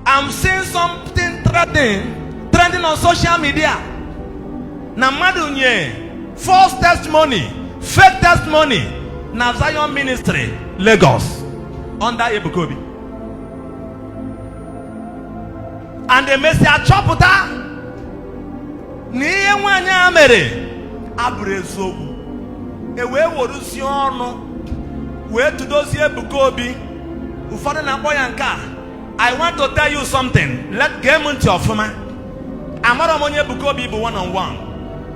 I'm seeing something trending on social media. Na mmadụ nye false testimony, fake testimony na Zion Ministry Lagos under Ebuka Obi. And e mesịa chọpụta na ihe nwaanyị a mere abụrọ eziokwu e wee weruzie ọnụ wee tụdozie Ebuka Obi ụfọdụ na-akpọ ya nke a I want to tell you something. Let gee m ntị ọfụma. Amara m onye Ebuka Obi bụ one on one.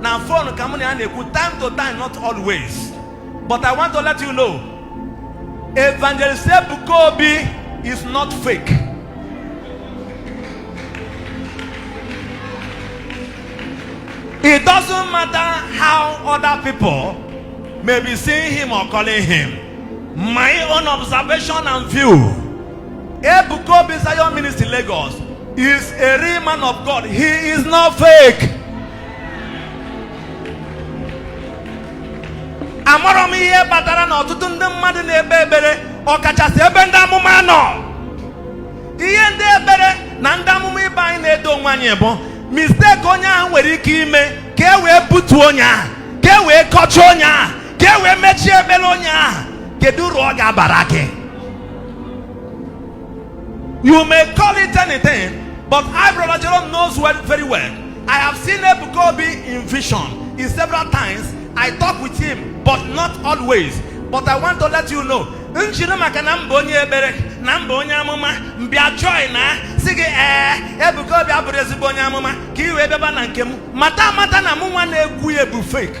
Na fon ka mụ na ya na-ekwu time to time not always. But I want to let you know. Evangelist Ebuka Obi is not fake. It doesn't matter how other people may be seeing him or calling him. My own observation and view. Ebuka Obi Zion Ministry Lagos is a real man of God. He is not fake. Amara m ihe kpatara na ọtụtụ ndị mmadụ na-ekpe ekpere ọkachasị ebe ndị amụma nọ. Ihe ndị ekpere na ndị amụma ibe anyị na-edo onwe anyị bụ mistake onye ahụ nwere ike ime ka e wee butuo onye ahụ ka e wee kọcha onye ahụ ka e wee mechie ekpere onye ahụ kedu uru ọ ga-abara gị you may call it anything but I brother Jerome knows very well I have seen Ebuka Obi in vision in several times I talk with him but not always but I want to let you know m jiri maka na m bụ onye ekpere na m bụ onye amụma m bịa join na-asị gị ee Ebuka Obi abụrọ ezigbo onye amụma ka ị wee bịaba na nke m mata amata na mụ nwa na-ekwu ya bụ fake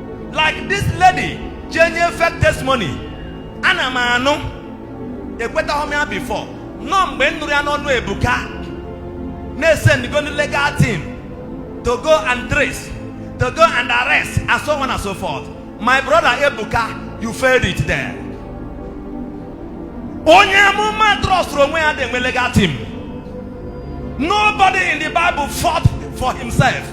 like this lady jee nye fake testimony ana m anụ ekwetahọ m ya before nọ mgbe m nụrụ ya n'ọnụ ebuka na e sendigo ndị legal team to go and trace to go and arrest and so on and so forth my brother ebuka you failed it there onye amụma trustrụ onwe ya adị enwe legal team nobody in the bible fought for himself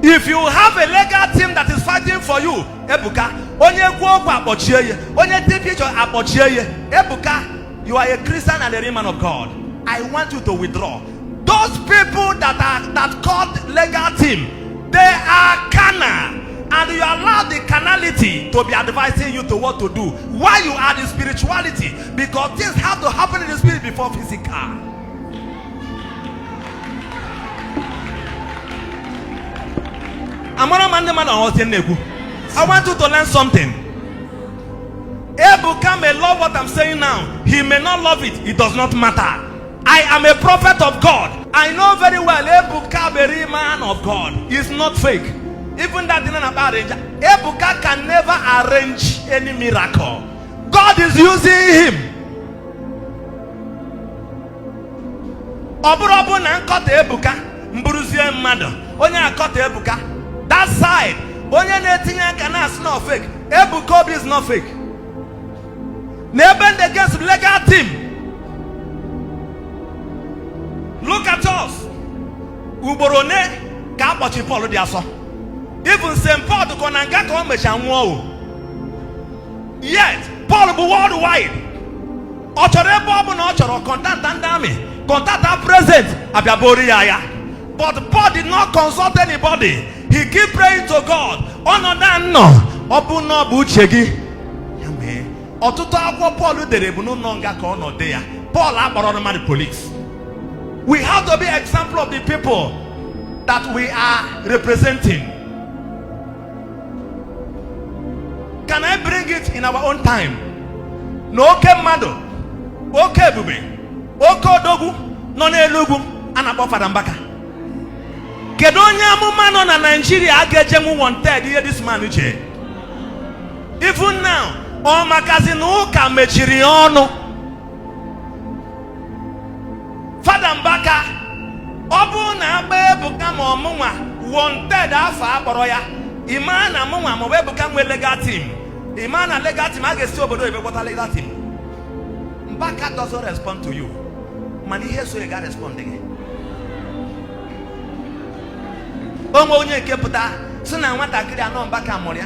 if you have a legal team that is fighting for you ebuka onye kwu okwu akpọchie ya onye take picture akpọchie ya ebuka you are a christian and a real man of god i want you to withdraw those people that are that called legal team they are carnal and you allow the carnality to be advising you to what to do why you are the spirituality because things have to happen in the spirit before physical amara ma ndị mmadụ aghọzie na-ekwu I want you to learn something. Ebuka may love what I'm saying now. He may not love it. It does not matter. I am a prophet of God. I know very well Ebuka very man of God. It's not fake. Even that didn't arrange. Ebuka can never arrange any miracle. God is using him. ọ bụrụ ọ bụ na m kọta ebuka m bụruzie mmadụ onye akọta ebuka that side onye na-etinye aka na-asị na ọ fake ebuka obi is not fake na ebe m dị against legal team look at us ugboro one ka a kpọchi Paul dị asọ even St Paul dịkọ na nga ka ọ mecha nwụọ o yet Paul bụ worldwide ọ chọrọ ebe ọ bụ na ọ chọrọ contacta ndị army contacta president abịabori ya ya but Paul did not consult anybody he keep praying to God ọnọdụ a m nọ ọ bụ na ọ bụ uche gị ya mee ọtụtụ akwụkwọ Paul dere bụ n'ụlọ nga ka ọ nọ dee ya Paul akpọrọ mmadụ police we have to be example of the people that we are representing Can I bring it in our own time? Na oke mmadụ, oke ebube, oke odogwu nọ n'elu ugwu a na-akpọ Fada Mbaka. Kedu onye amụma nọ na Naijiria a ga-ejenwu one third ihe this man uche? Even now, ọ makazi na ụka mechiri ya ọnụ. fada mbaka ọ bụrụ na a kpọọ ebuka ma ọ mụnwa one third afa a kpọrọ ya ị ma na mụnwa maọbụ ebuka nwee legal team ị ma na legal team a ga-esi obodo oyibo kpọta legal team mbaka doesn't respond to you mana ihe so ya ga respond gị o nwee onye nke pụta sị na nwatakịrị a na ọ mbaka mụrụ ya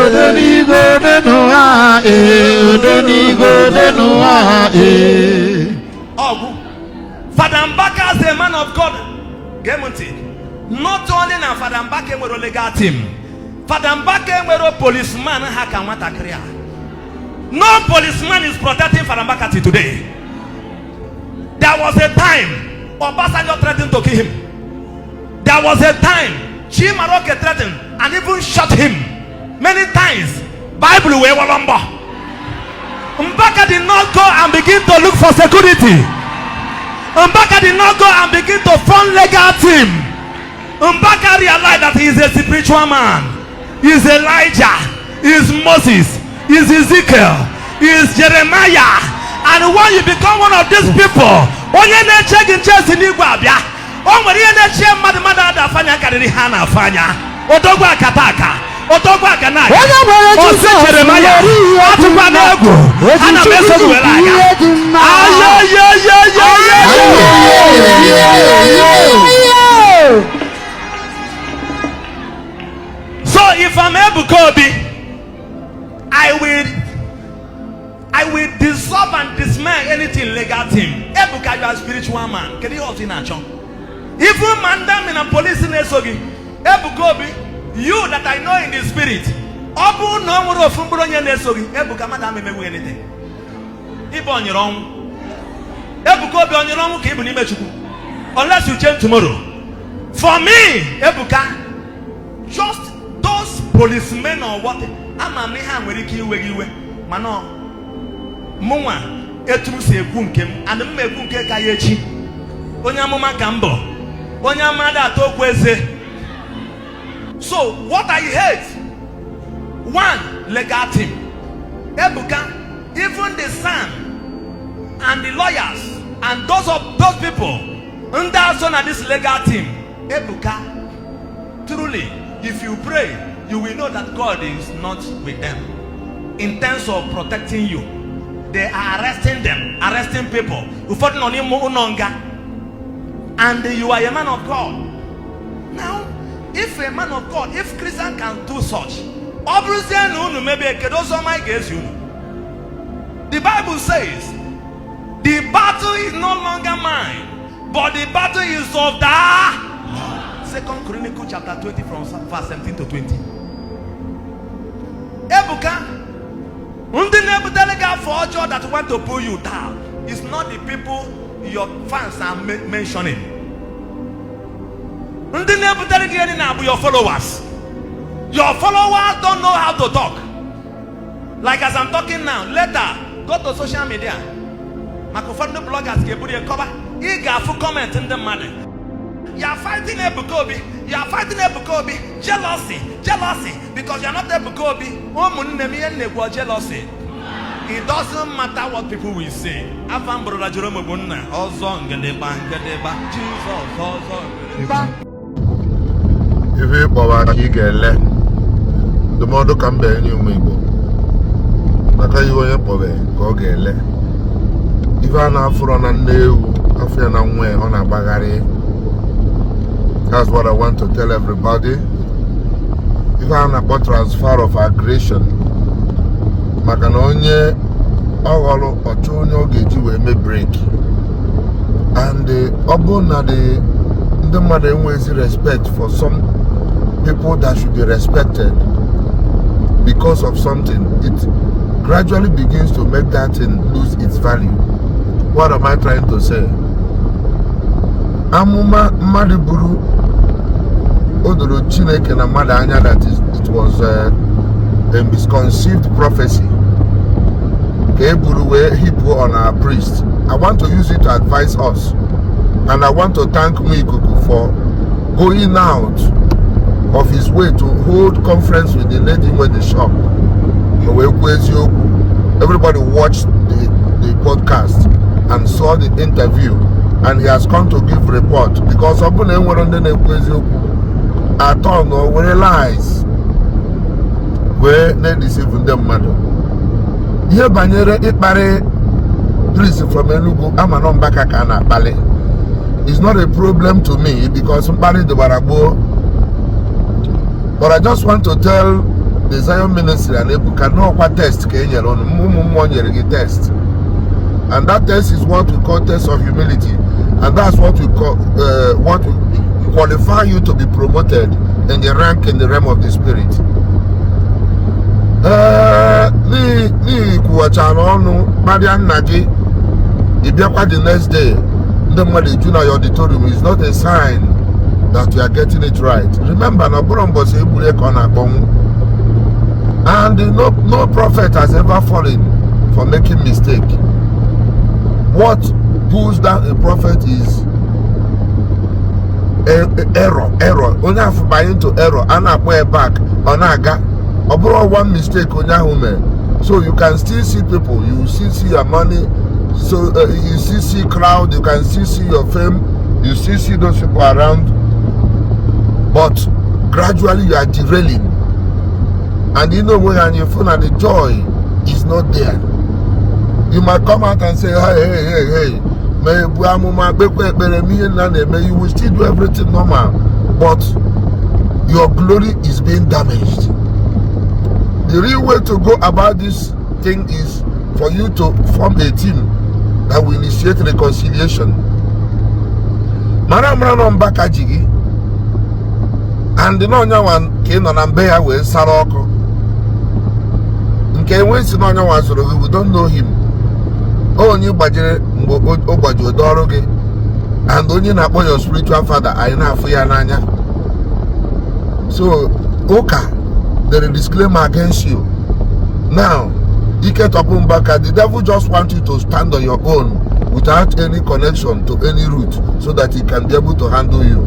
Ode n'igwe ode n'ụwa ee ode n'igwe ode n'ụwa ee. Ọgwụ Fada Mbaka as a man of God gee m ntị not only na Fada Mbaka enwerọ legal team Fada Mbaka enwerọ policeman ha ka nwatakịrị a no policeman is protecting Fada Mbaka till today there was a time Obasanjo threatened to kill him There was a time Chimaroke threatened and even shot him many times. Bible wee wọrọ mbọ. Mbaka did not go and begin to look for security. Mbaka did not go and begin to form legal team. Mbaka realized that he is a spiritual man. He is Elijah. He is Moses. He is Ezekiel. He is Jeremiah. And when you become one of these people, onye na-eche gị nche si n'igwe abịa o nwere ihe na-echie mmadụ mmadụ ada afa anya karịrị ha na-afa anya odogwu akata aka odogwu aka na aga Ọ sị Jeremaya, atụkwana egwu ana m eso gị were aga. so if I'm Ebuka Obi I will I will dissolve and dismay anything legal team. Ebuka, you are a spiritual man. Kedu ihe ọzọ ị na-achọ? Even ma ndị army na police na-eso gị. Ebuka Obi, you that I know in the spirit. Ọ bụrụ na o nwerọ ofu mkpụrụ onye na-eso gị, Ebuka mmadụ ama emenwu gị anything. Ị bụ onyiri ọnwụ. Ebuka Obi onyiri ọnwụ ka ị bụ n'ime Chukwu. Unless you change tomorrow. For me, Ebuka, just those policemen or what, ama m ihe a nwere ike iwe gị iwe. mana mụnwa etu m si ekwu nke m ana m ekwu nke ka ya echi onye amụma ka m bụ onye amụma ada ata okwu eze so what i hate one legal team ebuka even the SAN and the lawyers and those of those people ndị a so na this legal team ebuka Truly, if you pray, you will know that God is not with them. In terms of protecting you, they are arresting them, arresting people. Ụfọdụ nọ n'ime ụlọ nga. And you are a man of God. Now, if a man of God, if Christian can do such, ọ bụrụzie na unu mebie kedu ụzọ ọma anyị ga-ezi unu? The Bible says, the battle is no longer mine. But the battle is of the Second Chronicle chapter 20 from verse 17 to 20. Ebuka, ndị na-ebutere gị afa ọjọọ that want to pull you down is not the people your fans are mentioning. Ndị na-ebutere gị na-abụ your followers. Your followers don't know how to talk. like as I'm talking now later go to social media maka ụfọdụ ndị bloggers ga-eburu ya kọba ị ga-afụ comment ndị mmadụ you are fighting Ebuka Obi you are fighting Ebuka Obi jealousy jealousy because you are not Ebuka Obi ụmụnne m ihe m na-ekwu jealousy it doesn't matter what people will say afa m bụ Brother Jerome bụ nna ọzọ ngedegba ngedegba Jizọs ọzọ ngedegba ife ị kpọba ka ị ga-ele ndụmọdụ ka m bịa enye ụmụ Igbo maka ihe onye kpọbe ka ọ ga-ele ife a na-afụrọ na nne ewu a fụ ya na nwa ọ na-agbagharị that's what I want to tell everybody ife a na-akpọ transfer of aggression maka na onye ọ ghọrọ ọ chọọ onye ọ ga-eji wee mee brake and eh, ọ bụrụ na the ndị mmadụ enweghịzi respect for some people that should be respected because of something it gradually begins to make that thing lose its value what am i trying to say amụma mmadụ buru o doro chineke na mmadụ anya that it was eh, a misconceived prophecy ka e buru wee heap on our priest i want to use it to advise us and i want to thank me ikuku for going out of his way to hold conference with the lady nwe the shop o wee kwuo eziokwu everybody watched the the podcast and saw the interview and he has come to give report because ọ bụrụ na enwere ndị na-ekwu eziokwu atọ na o were lies wee na-edeceive ndị mmadụ ihe banyere ịkparị priest from Enugu a ma na ọ Mbaka ka a na-akpali is not a problem to me because mkparị dịbara gboo but I just want to tell the Zion ministry and Ebuka na ọ kwa test ka e nyere unu ụmụ mmụọ nyere gị test and that test is what we call test of humility and that's what we call uh, what will qualify you to be promoted in the rank in the realm of the spirit. ee na ị kwuwachara ọnụ kparịa nna gị ị bịakwa the next day ndị mmadụ eju na your auditorium is not a sign that you are getting it right remember na ọ bụrọ mbọsị e gburu ka ọ na-akpọnwụ and no, no prophet has ever fallen for making mistake what pulls down a prophet is error error onye afụ banye into error a na-akpọ ya back ọ na-aga ọ bụrụ one mistake onye ahụ mere so you can still see people you still see your money so uh, you still see crowd you can still see your fame you still see those people around but gradually you are derailing and you know when you feel that the joy is not there you might come out and say hey hey hey hey ma ebu amụma kpekwa ekpere mee ihe nna na-eme you will still do everything normal but your glory is being damaged the real way to go about this thing is for you to form a team that will initiate reconciliation mara mara na ọ Mbaka ji gị and na onye nwa ka ị nọ na be ya wee sara oku nke enwe si na onye nwa zụrụ gị we don't know him onye gbajere mgbe o gbaji ụdọ ọrụ gị and onye ị na-akpọ your spiritual father anyị na-afụ ya n'anya so ụka dere disclaimer against you now ike tọpụ Mbaka the devil just want you to stand on your own without any connection to any root so that he can be able to handle you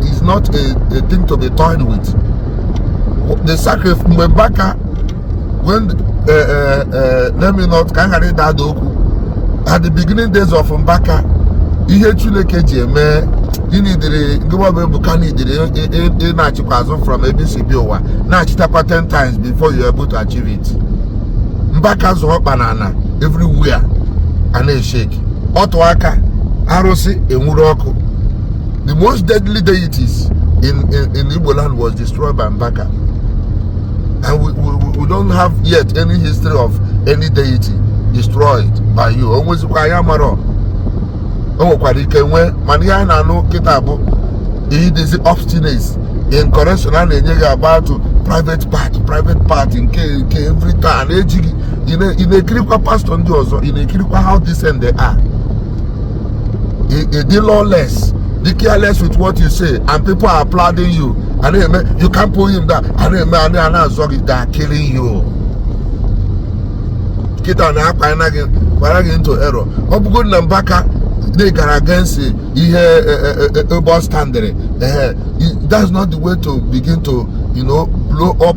is not a, a thing to be toyed with the sacrifice mgbe Mbaka when uh, uh, uh, let me not ka m ghara ịda ada okwu at the beginning days of Mbaka ihe Chineke ji ya mee na ị dị iri gịwa bụ Ebuka na ị dị iri ị nachikwaa azụ from ebe e si bịa ụwa nachitakwa 10 times before you're able to achieve it Mbaka zọọ ọkpa n'ana everywhere a na-eshake ọ tụọ aka arụsị enwuru ọkụ the most deadly deities in, in, in Igbo land was destroyed by Mbaka and we, we, we don't have yet any history of any deity destroyed by you o nwezikwa ya amarọ o nwekwara ike nwee mana ihe anyị na-anụ kịta bụ ị dịzi obstinate in correction a na-enye gị about private part private part nke nke every time ejighị ị na-ekirikwa pastọ ndị ọzọ ị na-ekirikwa how decent they are ị dị lawless dị careless with what you say and people are applauding you a na-eme you can't pull him down a na-eme a na-azọ gị they are killing you kịta na akpanyena gị kwara gị into error ọ bụgoro na mbaka they gara against ihe ebe ọ standịrị that's not the way to begin to you know blow up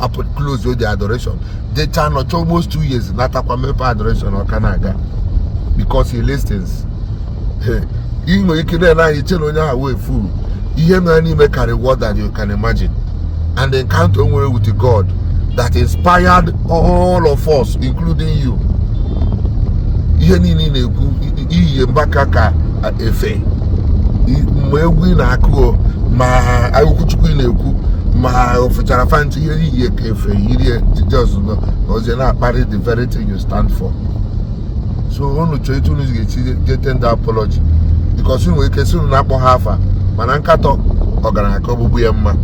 apụ close the adoration jechaa nọcha almost two years natakwa mepe adoration ọ ka na-aga because he listens ị nwere ike na-ele anya chee na onye ahụ wụ fool ihe nọ ya n'ime karị what that you can imagine and the encounter o nwere with God that inspired all of us including you ihe niile ị na-ekwu i- i- i yi mbaka ka efe ma egwu ị na-akụ ma okwu chukwu ị na-ekwu ma ofụchara fanti ihe niile ka efe yiri jijọs nọ na ozi na-akparị the very thing you stand for so unu chọọ etu unu ga-esi jee tender apology because unu nwere ike sị unu na-akpọ ha afa mana nkatọ ọgaranya ka ogbugbu ya mma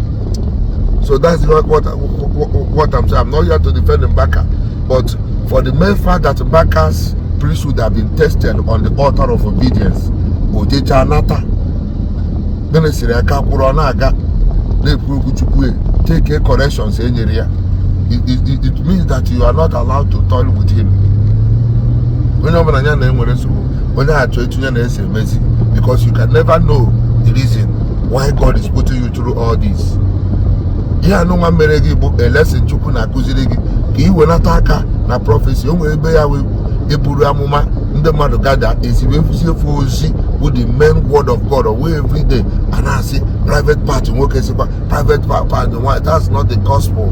so that's what, what, what I'm saying I'm not here to defend Mbaka But for the mere fact that Mbaka's priesthood have been tested on the altar of obedience, o jechaa nata. Ministry a ka kwụrụ ọ na-aga na-ekwu okwu Chukwu e, take corrections e nyere ya. It means that you are not allowed to toil with him. Onye ọbụla ya na-enwere nsogbu onye achọ etinye na-ese emezi because you can never know the reason why God is putting you through all this ihe anụnwa mere gị bụ a lesson chukwu na-akụziri gị ka ị welata aka na prọfesi o nwere ebe ya wee eburu amụma ndị mmadụ gada ezigbo efusi efu ozi bụ the main word of God wee every day a na-asị private part nwoke sịkwa private part nwaanyị that's not the gospel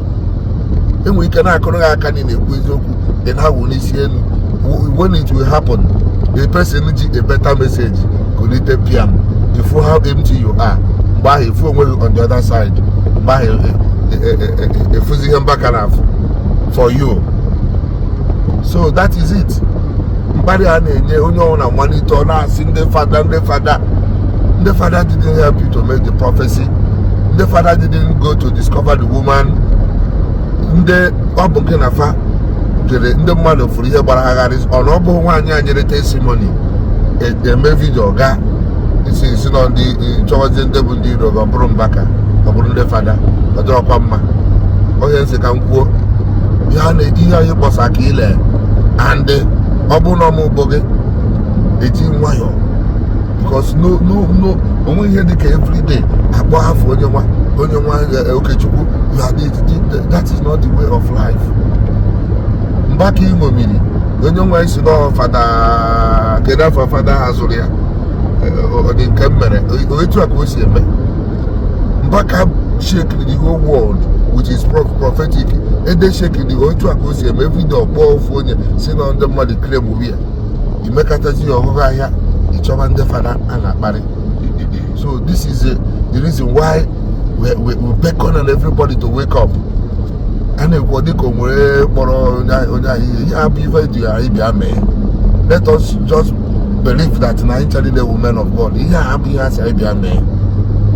e nwere ike na-akụrụ gị aka na ị na-ekwu eziokwu then ha wụ n'isi elu when it will happen the person ji a better message kulite piam ị fụ how empty you are mgbe ahụ ị fụ onwe gị on the other side mgbe ahụ ị fụzie ihe mbaka na-afụ for you so that is it mkparị a na-enye onye ọwụna mmalite ọ na-asị ndị fada ndị fada ndị fada didn't help you to make the prophecy ndị fada didn't go to discover the woman ndị ọ bụ gị na fa jere ndị mmadụ fụrụ ihe gbara agharị ọnụ ọ bụghị nwaanyị a nyere testimoni e, eme vidio ga isi isi na ndị chọwazi ndị bụ ndị iro ọ bụrụ mbaka ọ bụrụ ndị fada ọ dịrọkwa mma ọ ihe m sị ka m kwuo ihe anyị kpọsa ka ile and ọ bụrụ na ọ mụ bụ gị eji nwayọọ because no no no o nwe ihe dịka everyday a kpọ afa onye nwa onye nwa eh, okechukwu ya dị that is not the way of life mbaka iṅomiri onye nwa isi na fada kedu afa fada zụrụ ya ọ dị nke m mere etu a ka o si eme mbaka shekiri the whole world which is prophetic ede shekiri otu a ka o si eme vidio ọ kpọọ ofu onye sị na ndị mmadụ claim ya i mekatazi ya ọhụrụ ahịa ịchọba ndị fada a na-akparị so this is the reason why we we we beckon on everybody to wake up a na-ekwu ọ dịka o nwere kpọrọ onye ahụ- onye ahụ ihe ihe a bụ ife eji anyị bịa mee let us just believe that na anyị chọrọ the women of God ihe a bụ ihe a sị anyị bịa mee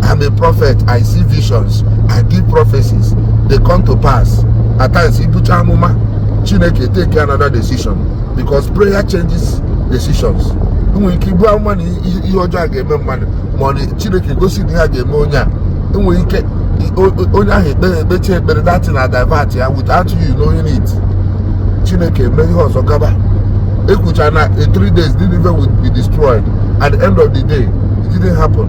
I'm a prophet I see visions I give prophecies they come to pass at times i bucha amụma Chineke take another decision because prayer changes decisions. Enwere ike ibu amụma na ihe ihe ọjọọ a ga-eme mmadụ ma ọ na chineke gosi na ihe a ga-eme onye a enwere ike onye ahụ ekpere ekpechi ekpere that thing adivert ya without you knowing it chineke mee ihe ọzọ gaba ekwucha na in three days Nineveh will be destroyed at the end of the day it didn't happen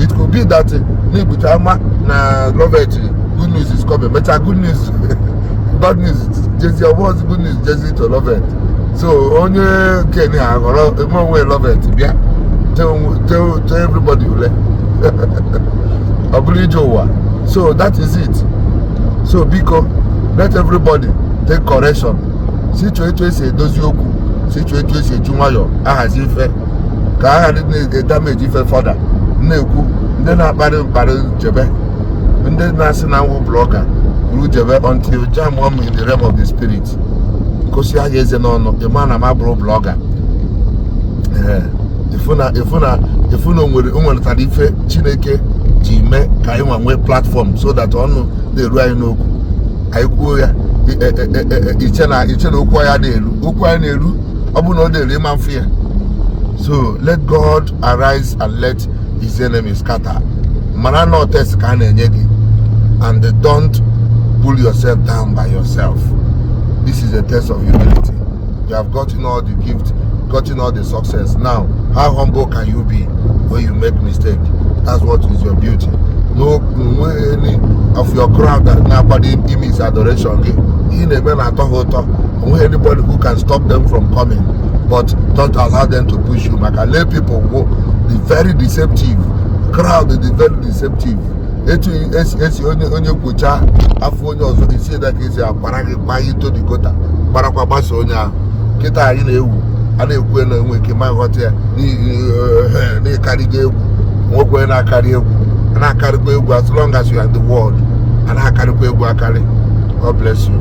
it could be that na ebucha amụma na lovet good news is coming mechaa good news bad news jezie ọ bụzị good news jezi to lovet so onye kenya aghọrọ eme onwe lovet bịa tell everybody ule ọ bụrụ ije ụwa so that is it so biko let everybody take correction si chọọ etu esi edozi okwu si chọọ etu esi eji nwayọọ ahazi ife ka a ghara na-edamage ife further na-ekwu ndị na-akparị mkparị jebe ndị na-asị na m wụ blogger buru jebe until jam m in the realm of the spirit gosi ya eze n'ọnụ ịma na m abụrọ blogger efu na efu na efu na o nwere o nweretara ife chineke ji mee ka anyị nwa nwee platform so that ọnụ na-eru anyị n'okwu anyị kwuo ya e, e, e, iche na iche na okwu anyị na-eru okwu anyị na-eru ọ bụrụ na ọ na-eru ịma mfe ya so let God arise and let his enemies scatter mara na test ka a na-enye gị and don't pull yourself down by yourself this is a test of humility you have gotten all the gift gotten all the success now how humble can you be when you make mistake that's what is your beauty no any of your crowd that na-akwado ime is adoration gị ihe na-eme na-atọ ha ụtọ onweghị anybody who can stop them from coming but don't allow them to push you maka lay people wo be very deceptive crowd dị very deceptive etu esi esi onye onye kwocha afọ onye ọzọ isi eda ka esi akwara gị gbaa ya into the gutter gbarakwa gbasa onye ahụ kịta anyị na-ewu a na-ekwu na enwe ike ma ghọta ya na-akarịgo egwu nwekwe na-akarị egwu a na-akarịkwa egwu as long as you are in the world a na-akarịkwa egwu akarị God bless you